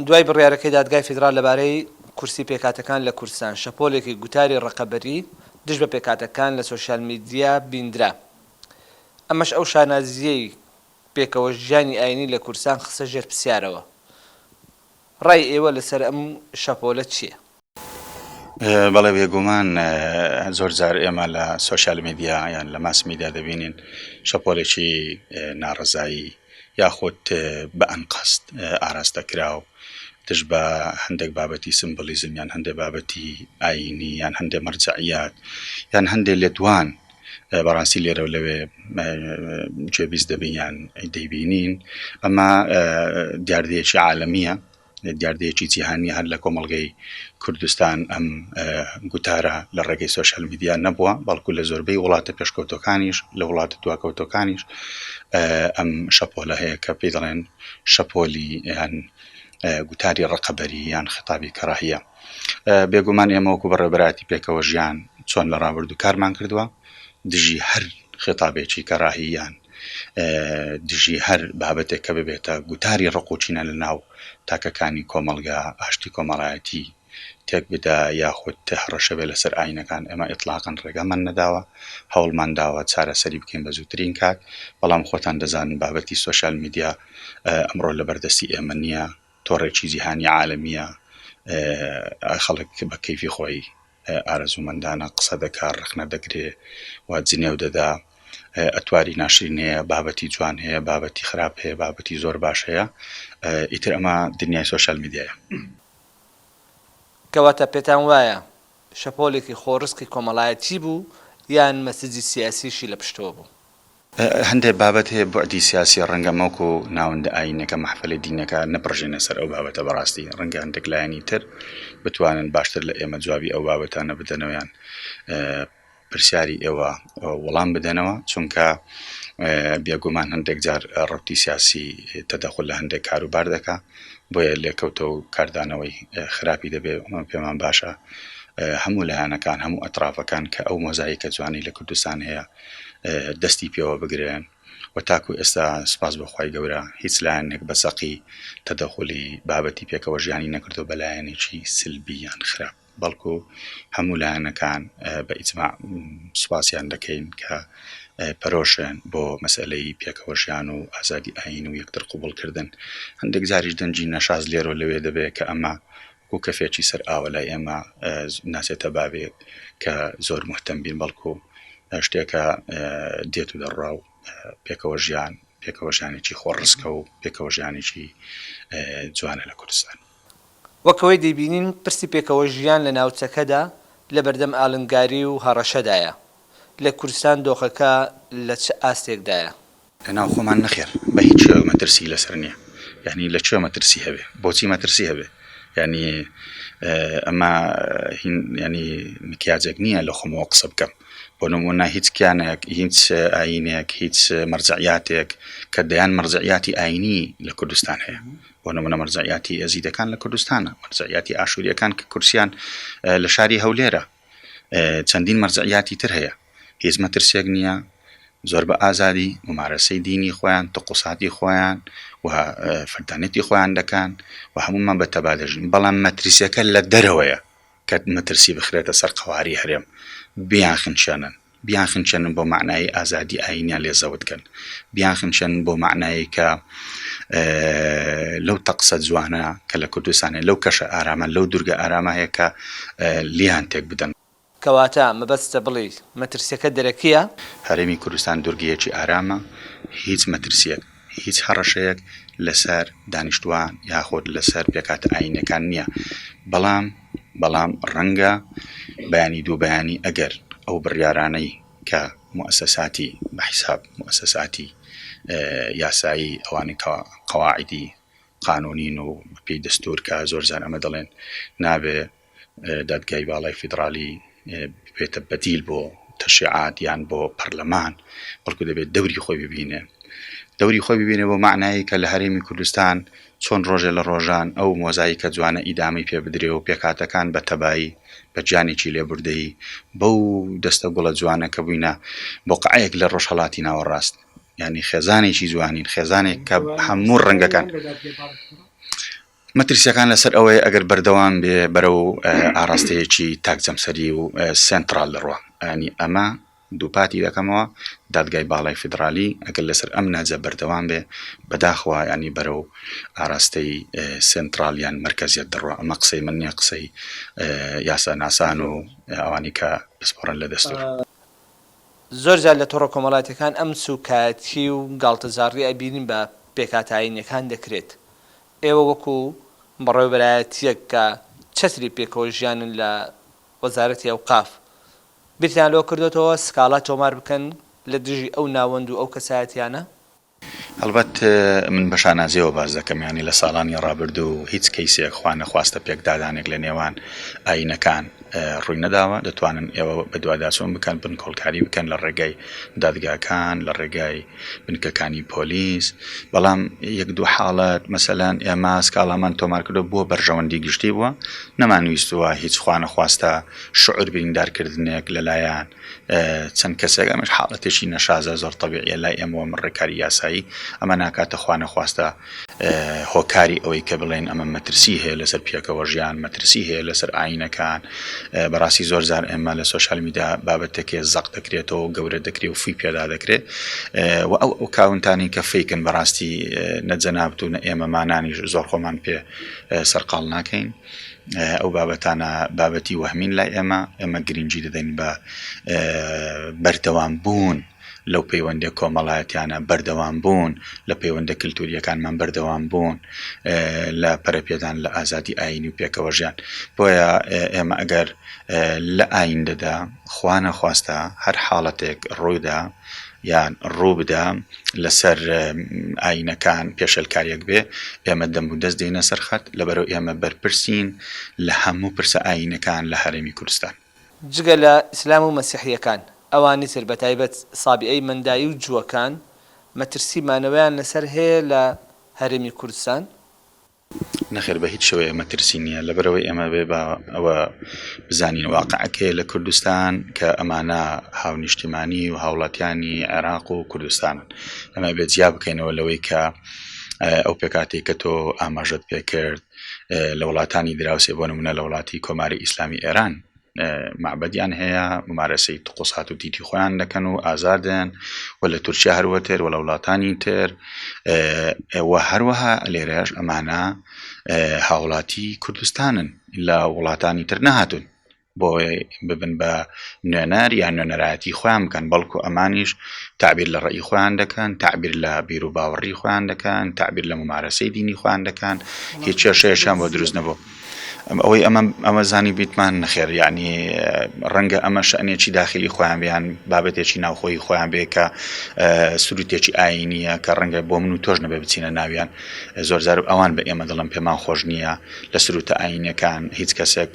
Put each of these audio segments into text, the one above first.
دوای بڕیارەکەی دادگای فیدراڵ لەبارەی کورسی پێکهاتەکان لە کوردستان، شەپۆلێکی گوتاری ڕقەبەری دژ بە پێکهاتەکان لە سۆشیال میدیا بیندرا. ئەمەش ئەو شانازییەی پێکەوە ژیانی ئایینی لە کوردستان خستە ژێر پرسیارەوە. ڕای ئێوە لەسەر ئەم شەپۆلە چییە؟ بەڵێ بێگومان زۆر جار ئێمە لە سۆشیال میدیا یان لە ماس میدیا دەبینین شەپۆلێکی ناڕەزایی یاخود بە ئەنقەست ئاراستە کراو دژ بە هەندێک بابەتی سمبلیزم یان هەندێک بابەتی ئاینی یان هەندێک مەرجەعیات یان هەندێک لێدوان بەڕاستی لێرە و لەوێ گوێبیست دەبین یان دەیبینین ئەمە دیاردەیەکی عالمیە دیاردەیەکی جیهانیە هەر لە کۆمەڵگەی کوردستان ئەم گوتارە لە ڕێگەی سۆشیال میدیا نەبووە بەڵکو لە زۆربەی وڵاتە پێشکەوتەکانیش لە وڵاتە دواکەوتەکانیش ئەم شەپۆلە هەیە کە پێی دەڵێن شەپۆلی یان گوتاری ڕقەبەری یان خطابی کەڕاهە بێگومان ئێمەوەکو بەڕێبراتی پێکەوە ژیان چۆن لە ڕابردوو کارمان کردووە دژی هەر خطابێکی کەڕاهیان دژی هەر بابەتێک کە ببێتە گوتاری ڕق و کینە لە ناو تاکەکانی کۆمەڵگا ئاشتی کۆمەڵایەتی تێک بدا یاخود هەڕەشە بێ لەسەر ئاینەکان ئێمە ئیتڵاقەن ڕێگامان نەداوە هەوڵمان داوە چارەسەری بکەین بە زووترین کات بەڵام خۆتان دەزانن بابەتی سۆشیال میدیا ئەمڕۆ لە بەردەستی ئێمە نییە تۆڕێکی جیهانی عالمیە خەڵک بە کەیفی خۆی ئارەزوومەندانە قسە دەکا ڕەخنە دەگرێ و جنێو دەدا ئەتواری ناشرین هەیە بابەتی جوان هەیە بابەتی خراپ هەیە بابەتی زۆر باش هەیە ئیتر ئەمە دنیای سۆشیال میدیایە. کەواتە پێتان وایە شەپۆلێکی خۆڕسکی کۆمەڵایەتی بوو یان مەسجی سیاسیشی لە پشتەوە بوو؟ هەندێ بابەت هەیە بوعدی سیاسیە ڕەنگە مەوک و ناوەندە ئاینەکە مەحفەلە دینەکە نەپڕژێنە سەر ئەو بابەتە بەڕاستی ڕەنگە هەندێک لایەنی تر بتوانن باشتر لە ئێمە جوابی ئەو بابەتانە بدەنەوە یان پرسیاری ئێوە وەڵام بدەنەوە چونکە بێگومان هەندێک جار ڕوتی سیاسی تەدەخل لە هەندێک کاروبار دەکا بۆیە لێکەوتە و کاردانەوەی خراپی دەبێ پێمان باشە هەموو لایەنەکان هەموو ئەترافەکان کە ئەو مۆزایکە جوانی لە کوردستان هەیە دەستی پێوە بگرن و تاکو ئێستا سوپاس بۆ خوای گەورە هیچ لایەنێک بە چەقی تەدەخولی بابەتی پێکەوە ژیانی نەکردوە بە لایەنێکی سلبی یان خراپ بەڵکو هەموو لایەنەکان بە ئیجماع سوپاسیان دەکەین کە پەرۆشن بۆ مەسئلەی پێکەوە ژیان و ئازادی ئاین و یەکتر قوبوڵکردن هەندێک جاریش دەنجی نەشاز لێرۆ لەوێ دەبێت کە ئەمە وەکو کەفێکی سەر ئاوە لای ئێمە ناچێتە باوێک کە زۆر مهتەم بین بەڵکو شتێکە دێت و دەڕا و پێکەوە ژیان پێکەوە ژیانێکی خۆ ڕسکە و پێکەوە ژیانێکی جوانە لە کوردستان. وەک ئەوەی دەیبینین پرسی پێکەوە ژیان لە ناوچەکەدا لە بەردەم ئالنگاری و هەڕەشەدایە، لە کوردستان دۆخەکە لە چ ئاستێکدایە؟ لە ناو خۆمان نەخێر بە هیچ شێوەیەک مەترسیی لەسەر نییە یانی لە کوێ مەترسی هەبێ بۆچی مەترسی هەبێ یانی ئەمە هین یانی مکیاجێک نییە لە خۆمەوە قسە بکەم بۆ نموونە هیچ کیانێک هیچ ئایینێک هیچ مەرجەعیاتێک کە دەیان مەرجەعیاتی ئایینی لە کوردستان هەیە بۆ نموونە مەرجەعیاتی ئێزیدەکان لە کوردستانە مەرجەعیاتی ئاشوورییەکان کە کورسیان لە شاری هەولێرە چەندین مەرجعیاتی تر هەیە هیچ مەترسیەک نیە زۆر بە ئازادی ممارەسەی دینی خۆیان تقوساتی خۆیان و فردانێتی خۆیان دەکەن و هەمومان بە تەبا دەژین بەڵام مەترسیەکە لە دەرەوەیە کە مەترسی بخرێتە سەر قەواری هەرێم بیان خنچێنن بیانخنچێنن بۆ مەعنای ئازادی ئایینیان لێ زەوت کەن، بیانخنچێنن بۆ مەعنای کە لەو تەقسە جوانە کە لە کوردستان هەیە، لەو کەشە ئارامە، لەو دورگە ئارامە هەیە کە لێیان تێک بدەن. کەواتە مەبەستتە بڵێیت مەترسیەکە دەرەکییە؟ هەرێمی کوردستان دورگەیەکی ئارامە، هیچ مەترسییەک. هیچ هەڕەشەیەک لەسەر دانیشتوان یاخود لەسەر پێکاتە ئاینیەکان نییە بەڵام بەڵام ڕەنگە بەیانی دوو بەیانی ئەگەر ئەو بڕیارانەی کە موسەساتی بەحیساب موسەساتی یاسایی ئەوانی کە قەواعدی قانونین و پێی دەستور کە زۆر جار ئەمە دەڵێن نابێ دادگای باڵای فیدڕالی ببێتە بەدیل بۆ تەشریعات یان بۆ پەرلەمان بەڵکو دەبێت دەوری خۆی ببینێ دەوری خۆی ببینێ بۆ معنایی کە لە هەرێمی کوردستان چۆن ڕۆژێ لە ڕۆژان ئەو مۆزایی کە جوانە ئیدامی پێ بدرێ و پێکاتەکان بە تەبایی بە گیانێکی لێبوردەیی بەو دەستە گوڵە جوانە کە بووینە بۆ قعەیەک لە ڕۆژهڵاتی ناوەڕاست ینی خێزانێکی جوانین خێزانێک کە هەموو ڕەنگەکان مەترسییەکان لەسەر ئەوەیە ئەگەر بەردەوام بێ بەرەو ئاڕاستەیەکی تاک جەمسەری و سێنتڕاڵ دەڕوا. یانی ئەمە دووپاتی دەکەمەوە دادگای باڵای فیدڕالی ئەگەر لەسەر ئەم نەهجە بەردەوام بێ بەداخەوە یانی بەرەو ئاراستەی سێنتڕاڵ یان مەرکەزیەت دەڕوا ئەمە قسەی من نیە قسەی یاساناسان و ئەوانی کە پسپۆڕن لە دەستوور. زۆر جار لە تۆڕە کۆمەڵاتیەکان ئەم سوکایەتی و گاڵتەجاڕی ئەبینین بە پێکهاتە ئاینیەکان دەکرێت، ئێوە وەکو بەڕێوەبەرایەتیەک کە چەتری پێکەوە ژیانن لە وەزارەتی ئەوقاف بیرتان لەوە کردۆتەوە سکاڵا تۆمار بکەن لە دژی ئەو ناوەند و ئەو کەسایەتیانە؟ هەڵبەت من بە شانازیەوە باس دەکەم یانی لە ساڵانی ڕابردوو هیچ کەیسێک خوا نەخواستە پێکدادانێک لە نێوان ئاینەکان ڕووی نەداوە دەتوانن ئێوە بەدواداچوون بکەن بنکۆڵکاری بکەن لە ڕێگای دادگاکان لە ڕێگای بنکەکانی پۆلیس بەڵام یەک دوو حاڵەت مەسەلەن ئێمە سکاڵامان تۆمار کردو بۆ بەرژەوەندی گشتی بووە نەمانویستووە هیچ خوا نەخواستە شعور بریندارکردنێک لەلایەن چەند کەسێک ئەمەش حاڵەتێکی نەشازە زۆر تەبیعیە لای ئێمە وە من ڕێکاری یاسایی ئەمە ناکاتە خوا نەخواستە هۆکاری ئەوەی کە بڵێن ئەمە مەترسی هەیە لەسەر پێکەوە ژیان مەترسی هەیە لەسەر ئاینەکان بەڕاستی زۆر زار ئێمە لە سوۆشال میدا بابەتێکێ زەق دەکرێتەوە گەورە دەکرێت و فی پێدا دەکرێت و ئەو ئەو کاونتانی کە فیکن بەڕاستی نەجەنابتو نە ئێمەمانانی زۆر خۆمان پێ سەرقال ناکەین ئەو بابەتانە بابەتی وەهمین لای ئێمە، ئێمە گرنگی دەدەین بە بەردەوامبوون لەو پەیوەندە کۆمەڵایەتیانە، بەردەوامبوون لە پەیوەندە کلتورییەکانمان، بەردەوامبوون لە پەرەپێدان لە ئازادی ئایینی و پێکەوەژیان. بۆیە ئێمە ئەگەر لە ئایندەدا خوانەخواستە هەر حاڵەتێک ڕوویدا، یان ڕوو بدا لەسەر ئاینەکان پێشێلکاریەک بێ ئێمە دەم و دەست دێنە سەر خەت لەبەرو ئێمە بەرپرسین لە هەموو پرسە ئاینەکان لە هەرێمی کوردستان. جگە لە ئیسلام و مەسیحیەکان ئەوانی تر بەتایبەت سابیئەی مەندایی و جووەکان مەترسی مانەوەیان لەسەر هەیە لە هەرێمی کوردستان نەخێر بە هیچ شێوەیەک مەترسی نییە لەبەرئەوەی ئێمە بێ با ئەوە بزانین واقعەکەی لە کوردستان کە ئەمانە هاونیشتیمانی و هاوڵاتیانی عێراق و کوردستانن ئەمە بێ جیا بکەینەوە لەوەی کە ئەو پێکاتی کە تۆ ئاماژت پێکرد لە وڵاتانی دراوسێ بۆ نمونە لە وڵاتی کۆماری ئیسلامی ئێران مەعبەدیان هەیە ممارەسەی تقوسات و تیتی خۆیان دەکەن و ئازادن و لە تورکیا هەروەتر وە لە وڵاتانی تر وە هەروەها لێرەش ئەمانە هاوڵاتی کوردستانن لە وڵاتانی تر نەهاتون بۆ ببن بە نوێنەر یان نوێنەرایەتی خۆیان بکەن بەڵکو ئەمانیش تعبیر لە ڕێی خۆیان دەکەن تعبیر لە بیر و باوەڕی خۆیان دەکەن تعبیر لە ممارەسەی دینی خۆیان دەکەن هیچ کێشەیەشیان بۆ دروست نەبوو ئەوەی ئەمە ئەمە زانیبیتمان نەخێر یەعنی ڕەنگە ئەمە شەنێکی داخلی خۆیان بیان بابەتێکی ناوخۆی خۆیان بێ کە سروتێکی ئاینیە کە ڕەنگە بۆ من و تۆش نەبێ بچینە ناویان زۆرزار و ئەوان بە ئێمە دڵم پێمان خۆش نییە لە سروتە ئاینەکان هیچ کەسێک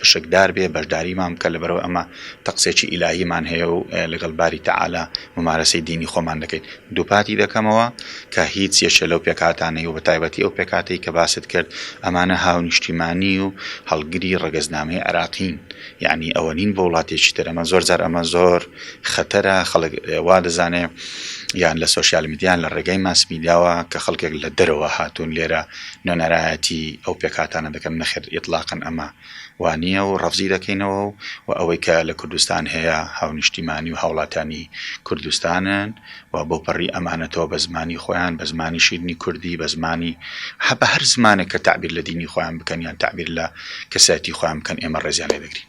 پشکدار بێ بەشداریمان کە لەبەرەوە ئەمە تەقسێکی ئیلاهیمان هەیە و لەگەڵ باری تەعالا مومارەسەی دینی خۆمان دەکەین. دووپاتی دەکەمەوە کە هیچ یەکێ لەو پێکهاتانەی و بە تایبەتی ئەو پێکهاتەی کە باست کرد ئەمانە هاونیشتیمانی و هەڵگری ڕەگەزنامەی عێراقین یەعنی ئەوە نین بۆ وڵاتێکی تر ئەمە زۆر جار ئەمە زۆر خەتەرە خەڵک وا دەزانێ یان لە سۆشیال میدیا یان لە ڕێگای ماس میدیاوە کە خەڵکێک لە دەرەوە هاتوون لێرە نۆنەرایەتی ئەو پێکهاتانە دەکەن نەخێر ئیتڵاقەن ئەمە وانیە و ڕەفزی دەکەینەوە و و ئەوەی کە لە کوردستان هەیە هاونیشتیمانی و هاوڵاتیانی کوردستانن و بەو پەڕی ئەمانەتەوە بە زمانی خۆیان بە زمانی شیرنی کوردی بە زمانی هە بە هەر زمانێک کە تەعبیر لە دینی خۆیان بکەن یان تەعبیر لە کەسایەتی خۆیان بکەن ئێمە ڕێزیان لێ دەگرین.